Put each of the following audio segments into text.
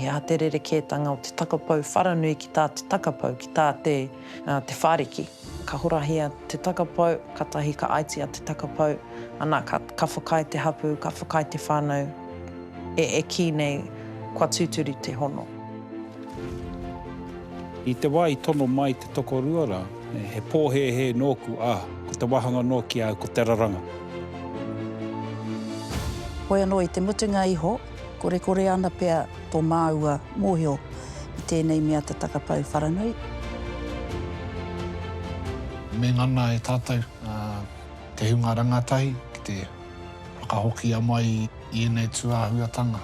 He aha te rerekētanga o te takapau wharanui ki tā te takapau, ki tā te Te Whāriki? Ka horahia te takapau, katahi ka aitia te takapau, ana, ka, ka whakaae te hapū, ka whakaae te whānau e, e kī nei kua tūturu te hono. I te wā i tono mai Tokorua rā, he pōhēhē nōku, ā, ko te wāhanga nō ki a au ko te raranga. Hoi anō i te mutunga iho, korekore ana pea tō māua mōhio i tēnei mea te takapau wharanui. Me ngana e tātou te hunga rangatahi ki te whakahokia mai i ēnei tūāhuatanga.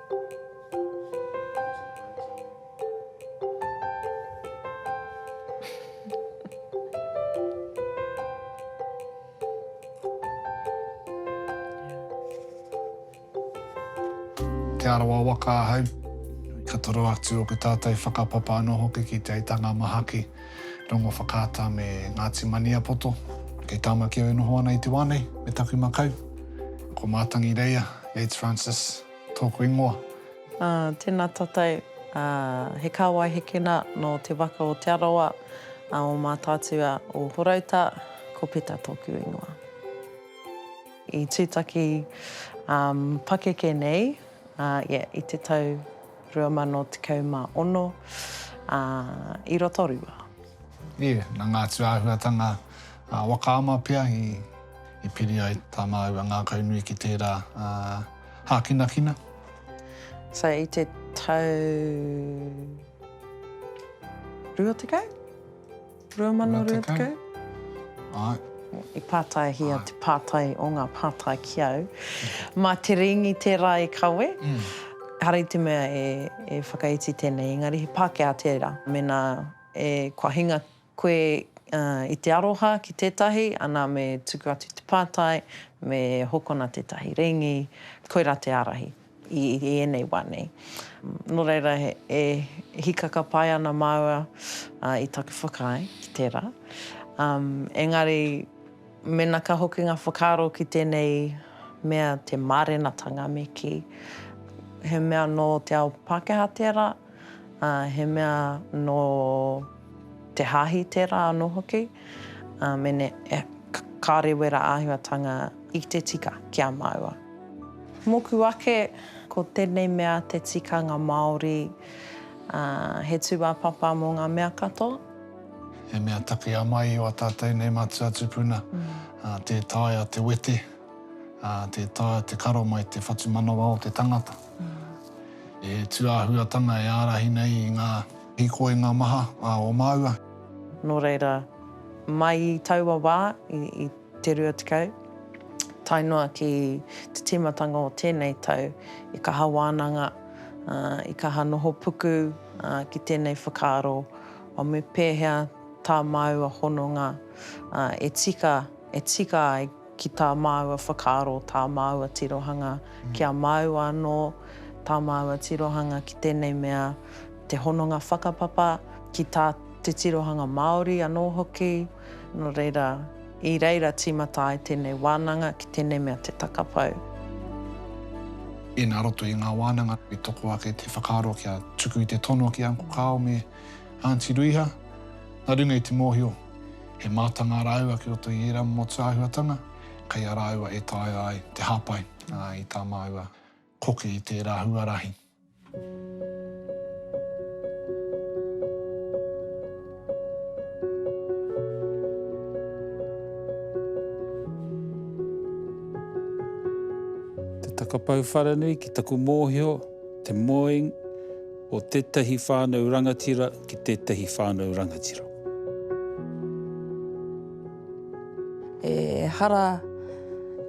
Te Arawa waka ahau, ka toro atu o ko tātou whakapapa anō hoki ki Te Aitanga-a-Mahaki, Rongowhakaata me Ngāti Maniapoto. Kei Tāmaki au e noho ana i te wā nei me taku makau, ko Mātangi Reia, Yates Francis. Tōku ingoa. Ā, tēnā tātou. Ā, he kāwai hekena nō te waka o Te Arawa, ā, o Mātaatua o Horouta, ko Peta tōku ingoa. I tūtaki, ā, pakeke nei, ā, ia i te tau 2016, ā, i Rotorua. Ia, nā ngā tūāhuatanga, ā, waka ama pea i. I piri ai tā māua ngākaunui ki tērā hākinakina. So i te tau 20? 2020? Āe. I pātaihia te pātai o ngā pātai ki au. Mā te Rīngi tērā e kawe. Hari te mea e whakaiti tēnei, engari he Pākehā tērā. Mēnā kua hinga Koe i te aroha ki tētahi, ana me tuku atu te pātai, me hokona tētahi rēngi, koirā te ārahi i ēnei wā nei. Nō reira, e hīkaka pai ana māua i taku whakaae ki tērā. Engari, mēnā ka hoki ngā whakaaro ki tēnei mea te mārenatanga me kī, he mea nō te ao Pākehā tērā, ā, he mea nō te Hāhi tērā anō hoki, ā, mēnē kāore wērā āhuatanga i te tika ki a māua. Mōku ake, ko tēnei mea te tikanga Māori, ā, he tūāpapa mō ngā mea katoa. He mea takea mai o a tātou nei matua tupuna, ā, tē taea te wete, ā, tē taea te karo mai te whatumanawa o te tangata. He tūāhuatanga e ārahi nei i ngā hīkoinga maha o māua. Nō reira, mai i taua wā, i te rua tekau, tae noa ki te tīmatanga o tēnei tau, i kaha wānanga, i kaha noho puku ki tēnei whakaaro, me pēhea tā māua hononga e tika, e tika ai. ki tā māua whakaaro, tā māua tirohanga, kia māua anō tā māua tirohanga ki tēnei mea, te hononga whakapapa, ki tā te tirohanga Māori anō hoki. Nō reira, i reira tīmata ai tēnei wānanga ki tēnei mea te takapau. Inā roto i ngā wānanga i toko ake te whakaaro kia tuku i te tono ki Uncle Carl me Aunty Ruiha, nā runga i te mōhio, He mātanga rāua ki roto i ērā motu āhuatanga, kei a rāua e taea ai te hāpai i tā māua koke i tērā huarahi. Te takapau wharanui ki taku mōhio, te mowing, o tētahi whānau rangatira ki tētahi whānau rangatira. Ehara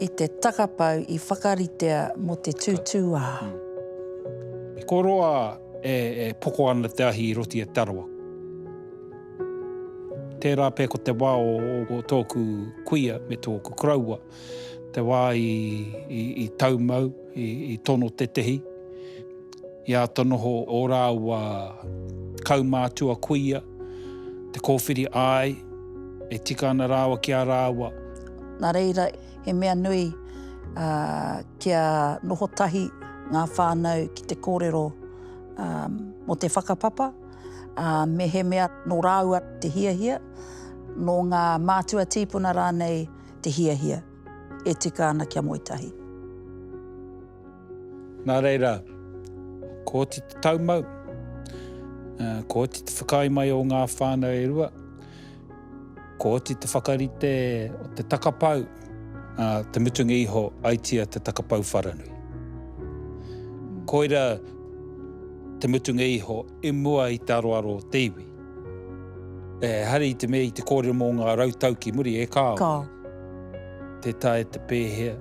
i te takapau i whakaritea mō te tūtūā. Ko roa e poko ana te ahi i roti e Te Arawa. Tērā pea ko te wā o tōku kuia me tōku koroua, te wā i tau mau, i tono tētahi, I āta noho ō rāua kaumātua kuia, te kōwhiri āe, e tika ana rāua ki a rāua. Nā reira, he mea nui kia noho tahi ngā whānau ki te kōrero mō te whakapapa, ā, mehemea nō rāua te hiahia, nō ngā mātua tīpuna rānei te hiahia, e tika ana kia moe tahi. Nā reira, ko oti te taumau, ko oti te whakaae mai o ngā whānau e rua, ko oti te whakarite o te takapau, a, te mutunga iho, aitia te takapau wharanui. Koira te mutunga iho i mua i te aroaro o te iwi. E hari i te mea i te kōrero mō ngā rautau ki muri, e kāo. Kāo. Te tae, te pēhea.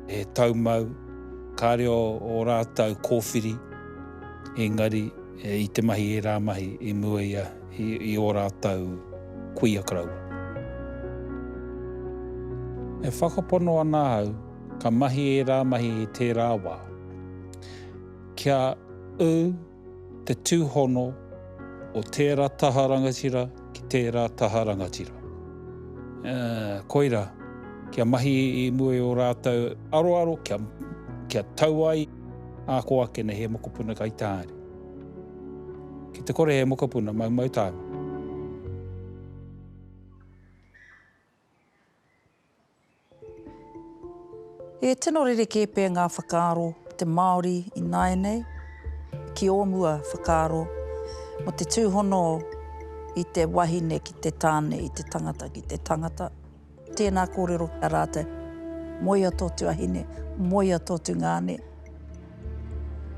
He taumau, kāre o ō rātou kōwhiri, engari i te mahi ērā mahi i mua ia i ō rātou kuia karaua. E whakapono ana ahau ka mahi ērā mahi i tērā wā. Kia ū. te tūhono o tērā taha rangatira ki tērā taha rangatira. Ā, koirā, kia mahi i mua i ō rātou aroaro, kia, kia tau ai ā kō ake nei he mokopuna kai tā haere. Ki te kore he mokopuna, maumau tāna. He tino rerekē pea ngā whakaaro o te Māori ināianei ki ō mua whakaaro mō te tūhono i te wahine ki te tāne, i te tangata ki te tangata. Tēnā kōrero ki a rātou, moea tō tuahine, moea tō tungāne.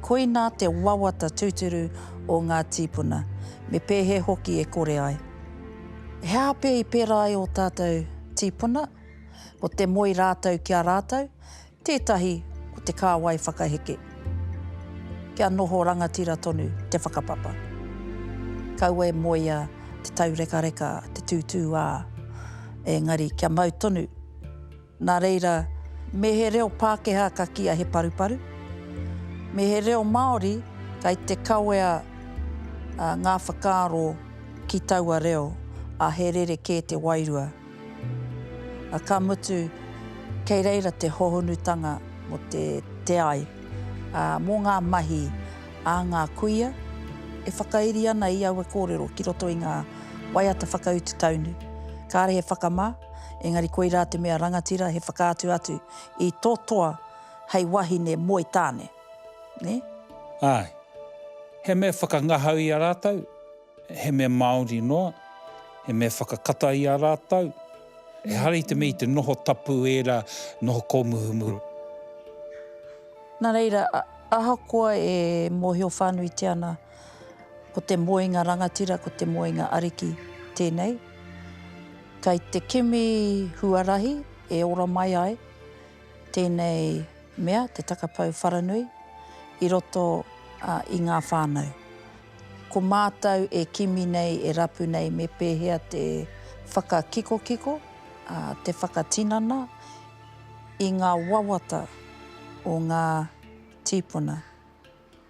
Koinā te wawata tūturu o ngā tīpuna, me pēhea hoki e kore ai. He aha pea i pērā ai ō tātou tīpuna? Ko te moe rātou ki a rātou, tētahi ko te kāwai whakaheke. Kia noho rangatira tonu te whakapapa. Kaua e moea te taurekareka, te tūtūā, engari kia mau tonu. Nā reira, me he reo Pākehā ka kīa he paruparu, me he reo Māori kei te kawea ngā whakaaro ki taua reo, ā, he rerekē te wairua. Ā, ka mutu, kei reira te hohonutanga mō te te ai, ā, mō ngā mahi ā ngā kuia e whakairi ana i aua kōrero ki roto i ngā waiata whakautu taunu. Kāre he whakamā. Engari koirā te mea rangatira he whakaatu atu i to toa hei wahine moe tāne. Ne? Ae. He mea whakangahau i a ratou, he mea Maori noa, he mea whakakata i a ratou. Ehara i te mea i te noho tapu era noho komuhumuhu. Na reira, ahakoa e mohio whanuitia ana. Ko te moenga rangatira, ko te moenga ariki tēnei. Kei te kimi huarahi e ora mai ai tēnei mea, te takapau wharanui, i roto i ngā whānau. Ko mātou e kimi nei, e rapu nei me pēhea te whakakikokiko, te whakatinana i ngā wawata o ngā tīpuna.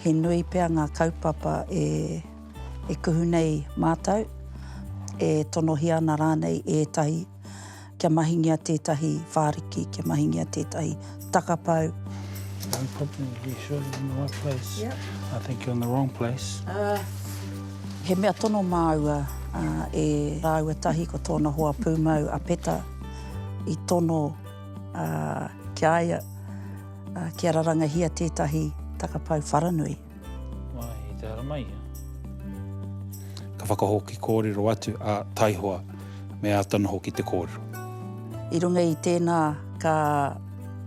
He nui pea ngā kaupapa e kuhu nei mātou, e tonohia ana rānei ētahi kia mahingia tētahi whāriki, kia mahingia tētahi takapau. No problem, you sure you're in the right place? Yep. I think you're in the wrong place. He mea tono māua e rāua tahi ko tōna hoa pūmau a Peta i tono ki a ia. Kia rarangahia tētahi takapau wharanui. Wai, te ara mai ia. Ka whakahoki kōrero atu a Taihoa me āta noho ki te kōrero. I runga i tēnā ka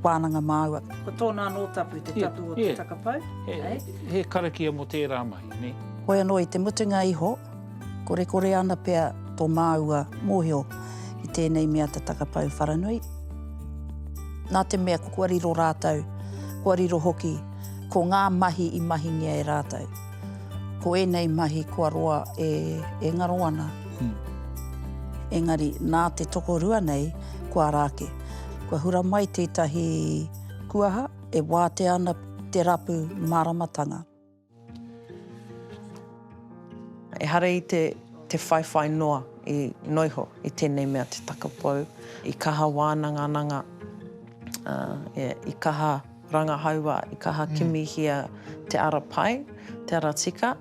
wānanga māua. Ko tōna anō tapu te tapu o te takapau. He karakia mō tērā mahi, nē. Hoi anō i te mutunga iho. Korekore ana pea tō māua mōhio i tēnei mea te takapau wharanui. Nā te mea kua riro rātou, kua riro hoki, ko ngā mahi i mahingia e rātou. Ko ēnei mahi kua roa e, e ngaro ana. Engari, nā te tokorua nei, kua ara ake. Kua hura mai tētahi kuaha e wātea ana te rapu māramatanga. Ehara i te whaiwhai noa i noiho i tēnei mea te takapou, i kaha wānangananga, i kaha rangahaua, i kaha kimihia te ara pai, te ara tika.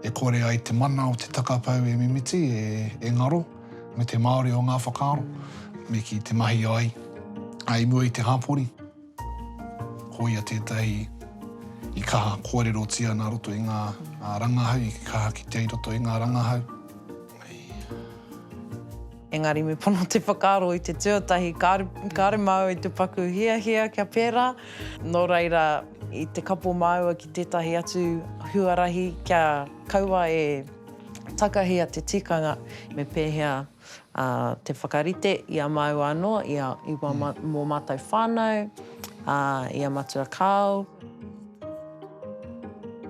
E kore ai te mana o te takapou e mimiti, e ngaro me te Māori o ngā whakaaro, me kī te mahi ai, i mua i te hapori. Ko ia tētahi i kaha kōrerotia nā roto i ngā rangahau, i kaha kitea i roto i ngā rangahau. Engari me pono te whakaaro i te tuatahi, kāre māua i te paku hiahia kia pērā, nō reira i te kapo māua ki tētahi atu huarahi kia kaua e takahia te tikanga me pēhea. ā, te whakarite i a māua anō, i a, i wā, mō mātou whānau, ā, i a Matua Kāo.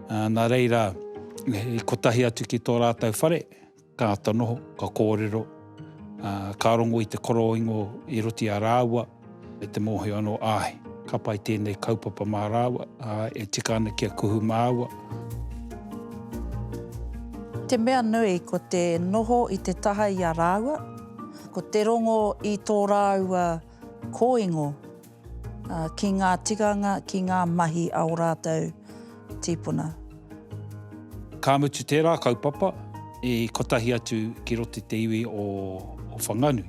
Ā, nā reira, i kotahi atu ki tō rātou whare, ka āta noho, ka kōrero, ā, ka rongo i te koroingo i roti a rāua, Me te mōhio anō, āe, ka pai tēnei kaupapa mā rāua, ā, e tika ana kia kuhu māua. Te mea nui, ko te noho i te taha i a rāua, ko te rongo i tō rāua kōingo ki ngā tikanga, ki ngā mahi a ō rātou tīpuna. Ka mutu tērā kaupapa i kotahi atu ki roto i te iwi o Whanganui.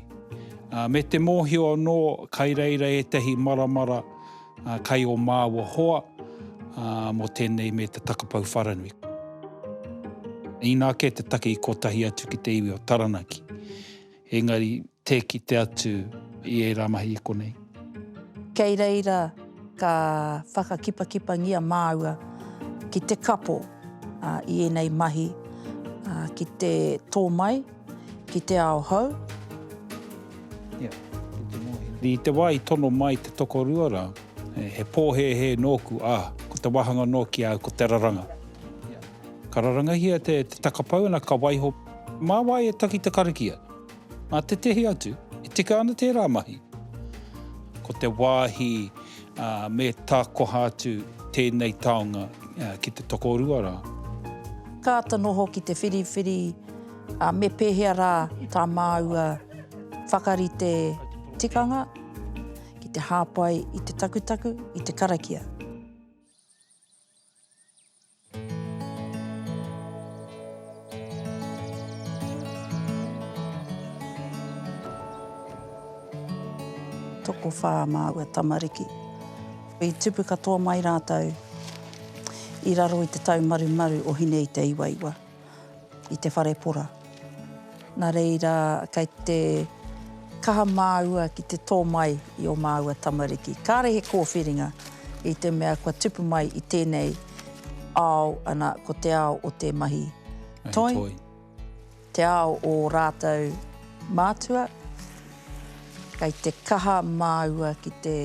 Me te mōhio anō kai reira ētahi maramara kai ō māua hoa mō tēnei me te takapau wharanui. Inā kē te take i kotahi atu ki te iwi o Taranaki. Engari, tē kite atu i ērā mahi i konei. Kei reira ka whakakipakipangia māua ki te kapo i ēnei mahi ki te tō mai ki te ao hou. I te wā i tono mai te tokorua rā, he pōhēhē nōku, ā, ko te wāhanga nōki au ko te raranga. Ka rarangahia te takapau ana ka waiho. Mā wai e taki te karakia? Mā tētehi atu, e tika ana tērā mahi. Ko te wāhi me tākoha atu tēnei taonga ki te tokorua rā. Kāta noho ki te whiriwhiri me pēhea rā tā māua whakarite tikanga ki te hāpai i te takutaku, i te karakia. Tokowhā māua tamariki. I tupu katoa mai rātou i raro i te taumarumaru o Hine-i-te-iwaiwa. i te whare pora. Nā reira, kei te kaha māua ki te tō mai i ō māua tamariki. Kāre he kōwhiringa i te mea kua tupu mai i tēnei ao, ana, ko te ao o te mahi toi, te ao o ō rātou mātua, kei te kaha māua ki te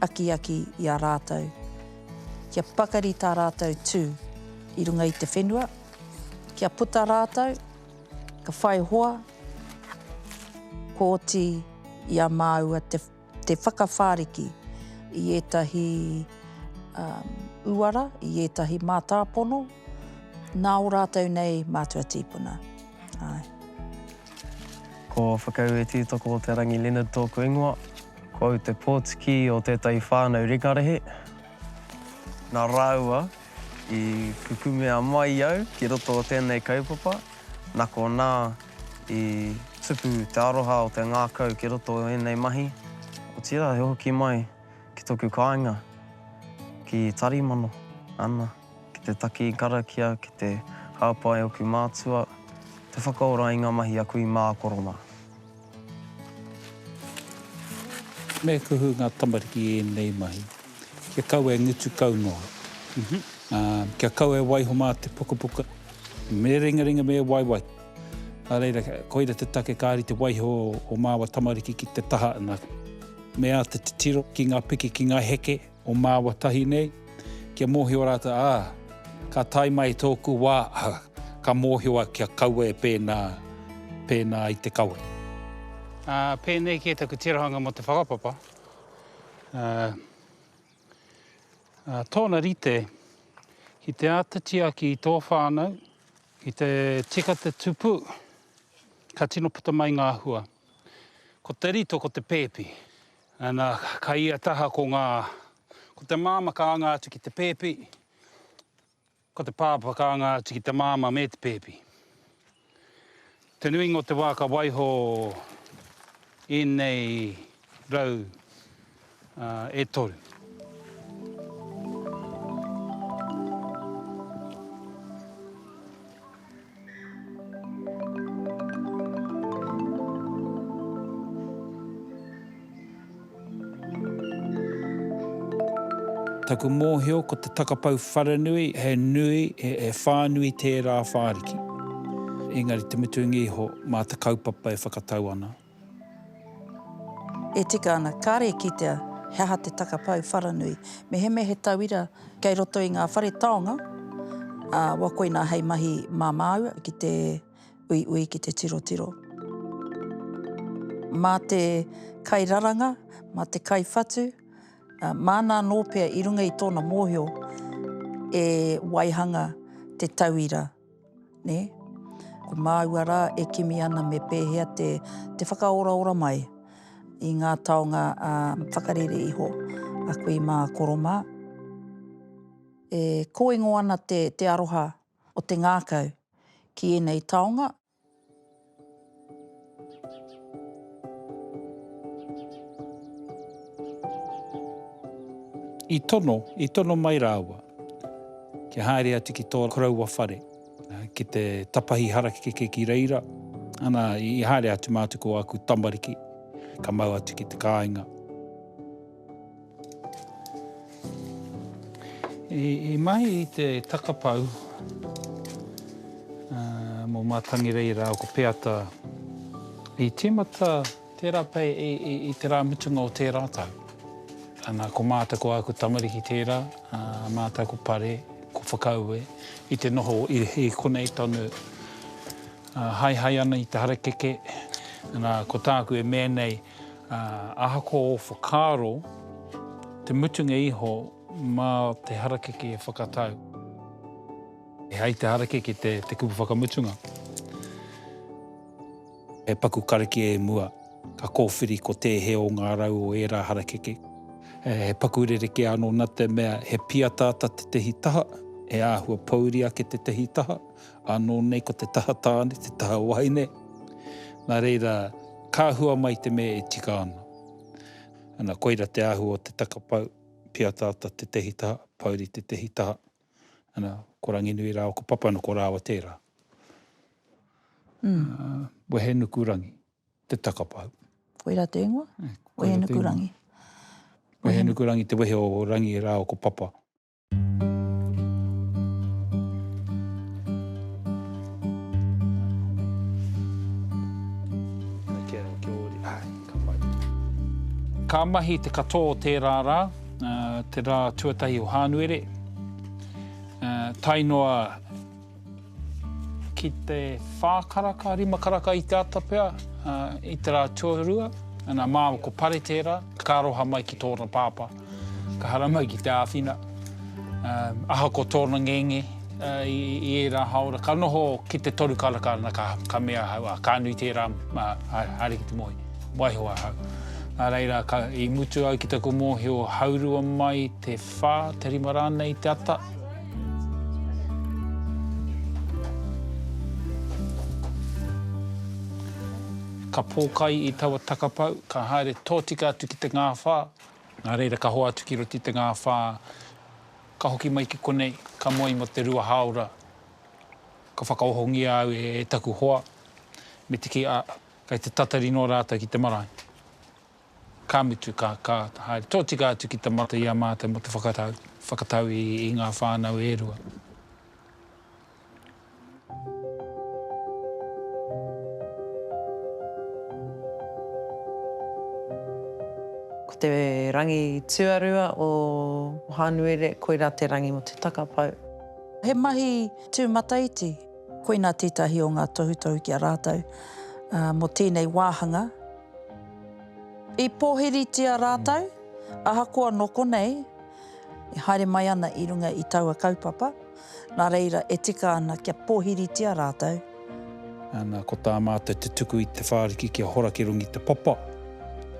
akiaki i a rātou. Kia pakari tā rātou tū i runga i te whenua, kia puta rātou, ka whai hoa, kua oti i a māua te whakawhāriki i ētahi uara, i ētahi mātāpono, nā ō rātou nei mātua tīpuna. Ae. Ko Whakaue Tītoko-o-te-rangi Leonard tōku ingoa. Ko au te pōtiki o tētahi whānau rekarehe. Nā rāua i kukumea mai au ki roto o tēnei kaupapa, nā konā i tupu te aroha o te ngākau ki roto o ēnei mahi, otirā he hoki mai ki tōku kāinga ki Tarimano, ana. Ki te taki i karakia, ki te hāpai oku mātua, te whakaora i ngā mahi a kui mā koro mā. Me kuhu ngā tamariki i ēnei mahi, kia kau e ngutu kau noa, kia kau e waiho mā te pukapuka, me ringaringa me waiwai. Nā reira, koira te take ka rite waiho o māua tamariki ki te taha, me āta titiro ki ngā piki, ki ngā heke. o māua tahi nei, kia mōhio rātou, ā, ka tae mai tōku wā, ā, ka mōhio au kia kaua e pēnā, pēnā i te kawe. Ā, pēnei kē taku tirohanga mō te whakapapa, ā, ā, tōna rite, ki te āta tiaki i tō whānau, ki te tika te tupu, ka tino puta mai ngā hua. Ko te rito, ko te pēpi. Ana, kai ia taha ko ngā, ko te māma ka anga atu ki te pēpi, ko te pāpā ka anga atu ki te māma me te pēpi. Te nuinga o te wā ka waiho ēnei rau e toru. Taku mōhio ko te takapau wharanui he nui, he whānui tērā whāriki. Engari te mutunga iho, mā te kaupapa e whakatau ana. E tika ana, kāre e kitea he aha te takapau wharanui. Mehemea he tauira kei roto i ngā whare taonga, ā, wa koinā hei mahi mā māua ki te uiui, ki te tirotiro. Mā te kairaranga, mā te kaiwhatu, māna anō pea i runga i tōna mōhio e waihanga te tauira. Nē? Ko māua rā e kimi ana me pēhea te, te whakaoraora mai i ngā taonga ā, whakarere iho a kui mā, koro mā. E kōingo ana te, te aroha o te ngākau ki ēnei taonga, I tono, i tono mai rāua kia haere atu ki tō koroua whare, ki te tapahi harakeke ki reira, ana, i haere atu mātou ko āku tamariki, ka mau atu ki te kāinga. I mahi i te takapau mō Mātangi Rei rāua ko Peata, i tīmata tērā pei i te rā mutunga o tērā tau. Ana, ko mātou, ko āku tamariki tērā, mātou ko Pare, ko Whakaue, i te noho i konei tonu, haehae ana i te harakeke. Ana, ko tāku e mea nei, ā, ahakoa ō whakaaro, te mutunga iho mā te harakeke e whakatau. E hai te harakeke te kupu whakamutunga. He paku karakia e mua, ka kōwhiri ko tēhea o ngā rau o ērā harakeke. He paku rerekē anō nā te mea he pīataata tētehi taha, he āhua pōuri ake tētehi taha, Anō nei ko te taha tāne, te taha wahine, nā reira ka hua mai te mea e tika ana. Ana, koira te āhua o te taka pau, Piataata tētehi taha, Pouri tētehi taha, ana, ko Ranginui rāua ko Papanoko rāua tērā. Wehenukurangi, te taka pau. Koira te ingoa, Wehenukurangi. Wehenukurangi te wehe o Rangi rāua ko Papa. Ka mahi te katoa o tērā rā, te rā tuatahi o Hānuere, tae noa Ki te whā karaka, rima karaka i te ata pea, i te rā tuarua, ana māua ko Pare tērā, ka aroha mai ki tōna pāpā, ka hara mai ki te āwhina. Ahakoa tōna ngenge i ērā hāora, ka noho ki te toru karaka ana ka mea ahau, ā, ka nui tērā, haere ki te moe, waiho ahau. Nā reira, i mutu au ki taku mōhio, haurua mai te whā, te rima rānei te ata. Ka pōkai i taua takapau, ka haere tōtika atu ki te ngāwhā, nā reira ka hoa atu ki roto i te ngāwhā, ka hoki mai ki konei, ka moe mō te rua hāora, ka whakaohongia au e taku hoa, me te kī, ā, kei te tatari nō rātou ki te marae. Ka mutu, ka, ka haere tōtika atu ki te mata i a mātou mō te whakatau, whakatau i, i ngā whānau e rua. Ko te rangi tuarua o Hānuere, koirā te rangi mō te takapau. He mahi tūmataiti. Koinā tētahi o ngā tohutohu ki a rātou mō tēnei wāhanga. I pōhiritia rātou, ahakoa nō konei, e haere mai ana i runga i taua kaupapa, nā reira e tika ana kia pōhiritia rātou. Ana, ko tā mātou te tuku i Te Whāriki kia hora ki runga i te papa.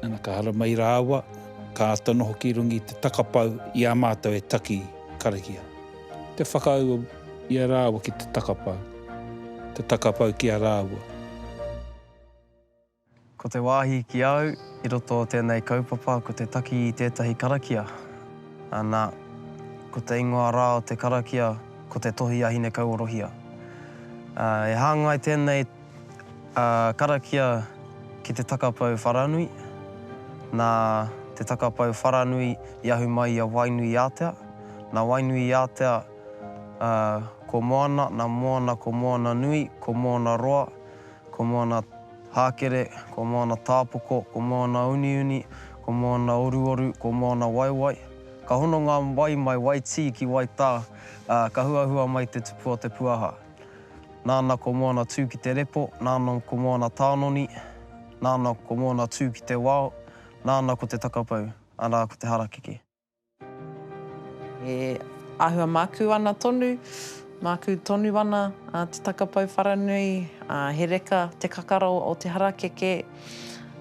Ana, ka haramai rāua, ka āta noho ki runga i te takapau i a mātou e taki karakia. Te whakaū i a rāua ki te takapau, te takapau ki a rāua. Ko te wāhi ki a au i roto o tēnei kaupapa ko te taki i tētahi karakia, ana, ko te ingoa rā o te karakia ko Te Tohi a Hinekauorohia. E hāngai tēnei karakia ki te takapau wharanui, nā te takapau wharanui i ahu mai i a Wainuiātea, nā Wainuiātea ko Moana, nā Moana ko Moananui, ko Moanaroa, Ko Moana Hākere, ko Moana Tāpoko, ko Moana Uniuni, ko Moana Oruoru, ko Moana Waiwai. Ka hono ngā wai mai Waitī ki Waitā, ā, ka huahua mai te tupu o Te Puaha. Nāna ko Moana tū ki te repo, nāna ko Moana Tānoni, nāna ko Moana tū ki te wao, nāna ko te takapau, arā, ko te harakeke. E āhua mākū ana tonu, mākū tonu ana te takapau wharanui, he reka te kakara o te harakeke,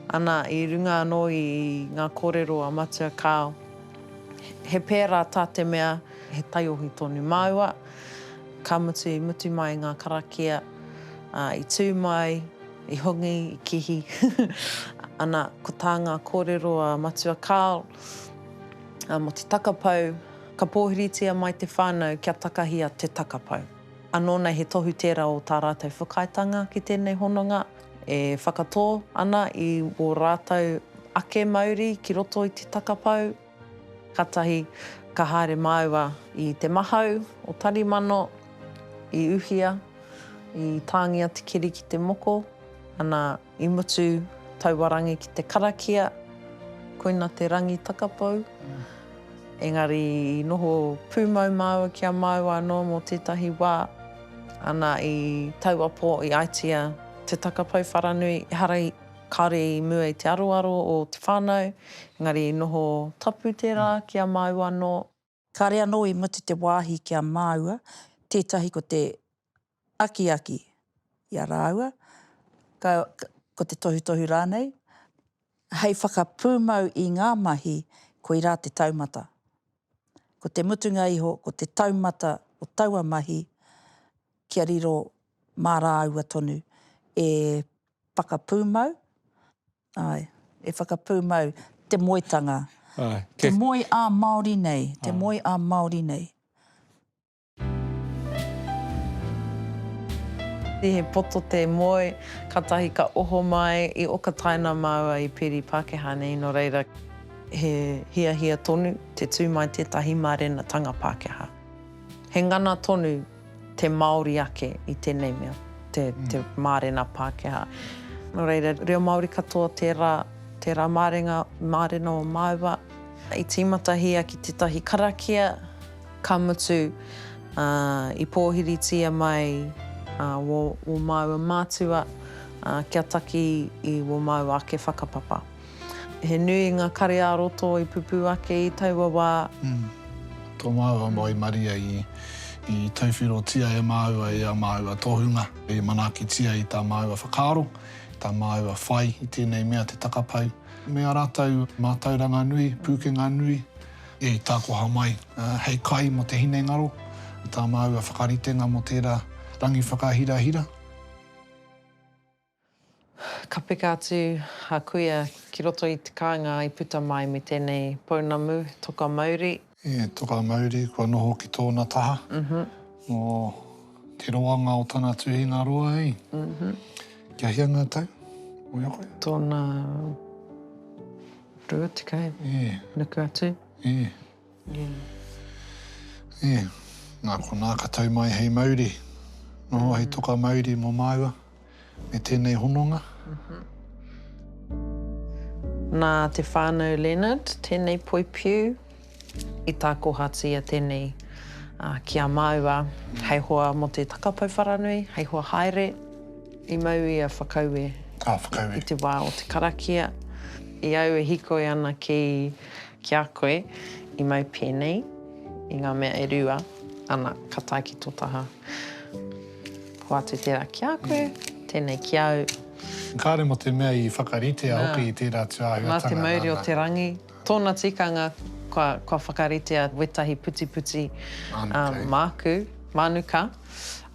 ana, i runga anō i ngā kōrero a Matua Kāo. He pērā tā te mea, he taiohi tonu māua, ka mutu i mutu mai ngā karakia, i tū mai, i hongi, i kihi, ana, ko tā ngā kōrero a Matua Kāo, Ā, mō te takapau, ka pōhiritia mai te whānau kia takahia te takapau. Anō nei he tohu tērā o tā rātou whakaaetanga ki tēnei hononga, e whakatō ana i ō rātou ake mauri ki roto i te takapau. Kātahi ka haere māua i te mahau o Tarimano, i Uhia, i tāngia te keri ki te moko, ana, I mutu taua rangi ki te karakia, koina te rangi takapou. Engari i noho pūmau māua ki a māua anō mō tētahi wā, ana i taua pō i aetia te takapou wharanui, ehara i, kāore i mua i te aroaro o te whānau, engari i noho tapu tērā ki a māua anō. Kāre anō i mutu te wāhi ki a māua, tētahi ko te akiaki i a rāua, ka, ko te tohutohu rānei, hei whakapūmau i ngā mahi, koirā te taumata. Ko te mutunga iho, ko te taumata o taua mahi, kia riro mā rāua tonu e whakapūmau, Ae, e whakapūmau te moetanga. Ae. Te moe ā Māori nei, te moe ā Māori nei. He poto te moe, katahi ka oho mai, i oka taina māua i peri Pākehā nei, no reira, he hiahia tonu te tū mai tētahi mārenatanga Pākehā. He ngana tonu. Te Māori ake i tēnei mea, te mārena Pākehā. Nō reira, reo Māori katoa tērā, tērā mārenga, mārena o māua. I tīmatahia ki tētahi karakia, ka mutu, i pōhiritia mai wō māua mātua kia taki i wō māua ake whakapapa. He nui ngā kare ā-roto i pupū ake i taua wā. Tō māua moe maria i tauwhirotia e māua i ā māua tohunga, i manaakitia i tā māua whakaaro, tā māua whai i tēnei mea te takapau, me ā rātou mātauranga nui, pūkenga nui, i tākoha mai hei kai mō te hinengaro, tā māua whakaritenga mō tērā rangi whakahirahira. Ka peka atu a Kuia ki roto i te kāinga i puta mai me tēnei pounamu, toka mauri. E toka mauri kua noho ki tōna taha, mō te roanga o tana tuhinga roa i. Kia hia ngā tau? Wai a koe? Tōna rua tekau, nuku atu. E, nā konā ka tau mai hei mauri noho, hei toka mauri mō māua me tēnei hononga. Nā te whānau Leonard tēnei poipiu i tākohatia tēnei ki a māua hei hoa mō te takapau wharanui, hei hoa haere i mau ia whakaue i te wā o te karakia. I au e hikoi ana ki Ki a koe, i mau pēnei i ngā mea e rua, ana, ka tae ki tō taha. Hoatu tērā ki a koe, tēnei ki au. Kāre mō te mea i whakaritea hoki i tērā tū āhuatanga. Nā te mauri o te rangi, tōna tikanga kua whakaritea wētahi putiputi māku, mānuka,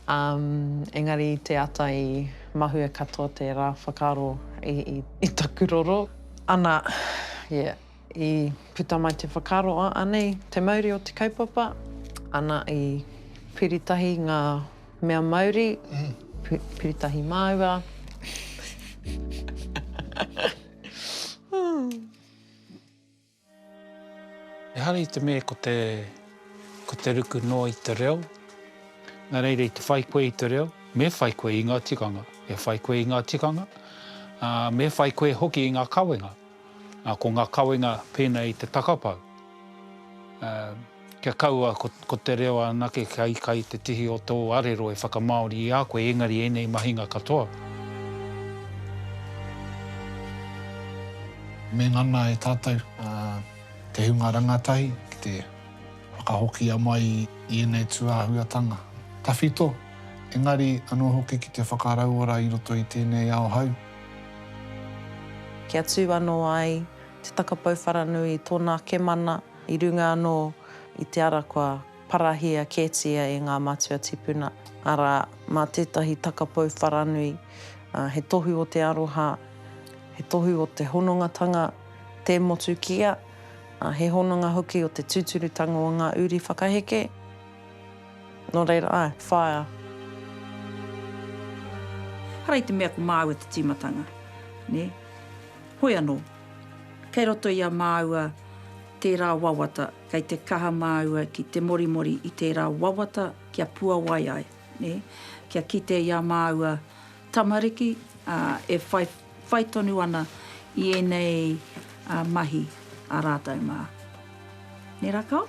engari i te ata i mahue katoa tērā whakaaro i taku roro. Ana, yeah. I puta mai te whakaaro, a, anei te mauri o te kaupapa, ana i piritahi ngā mea mauri, piritahi māua. Ehara i te mea ko te, ko te ruku noa i te reo, nā reira i te whai koe i te reo, me whai koe i ngā tikanga, me whai koe i ngā tikanga, ā, me whai koe hoki i ngā kawenga. Ā, ko ngā kawenga pēnei i te takapau, ā, kia kaua ko, ko te reo anake kia ika i te tihi o tō arero e whakamāori i a koe engari ēnei mahinga katoa. Me ngana e tātou, ā, te hunga rangatahi ki te whakahokia mai i ēnei tūāhuatanga tawhito, engari anō hoki ki te whakarauora i roto i tēnei ao hou. Kia tū anō ai te takapau wharanui i tōna ake mana, i runga anō i te ara kua parahia kētia e ngā matua tipuna, arā, mā tētahi takapau wharanui, he tohu o te aroha, he tohu o te honongatanga, tē motu kia, he hononga hoki o te tūturutanga o ngā uri whakaheke. Nō reira, āe, whaea. Hara i te mea ko māua te tīmatanga, nē. Hoi anō, kei roto i a māua tērā wawata, kei te kaha māua ki te morimori i tērā wawata kia puawai ai, nē, kia kite i a māua tamariki, ā, e whai, whai tonu ana i ēnei, ā, mahi a rātou mā. Nē rakau?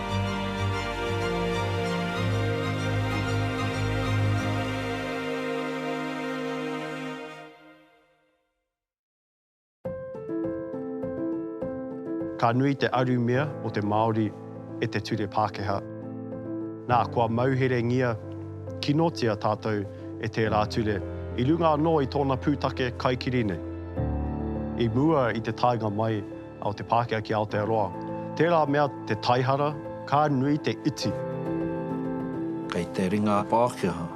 Ka nui te arumia o te Māori e te ture Pākehā. Nā, kua mauherengia kinotia tātou e tērā ture i runga anō i tōna pūtake kaikiri nei. I mua i te taenga mai o te Pākehā ki Aotearoa. Tērā mea te taihara, ka nui te iti. Kei te ringa Pākehā,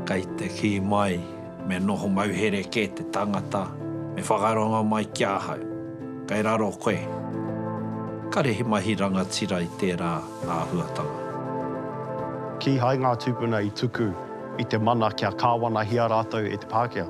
kei te kī mai, me noho mauhere kē te tangata, me whakarongo mai ki ahau. Kei raro koe. Kare he mahi rangatira i tērā āhuatanga. Kīhai ngā tūpuna i tuku i te mana kia kāwanahia rātou e te Pākehā.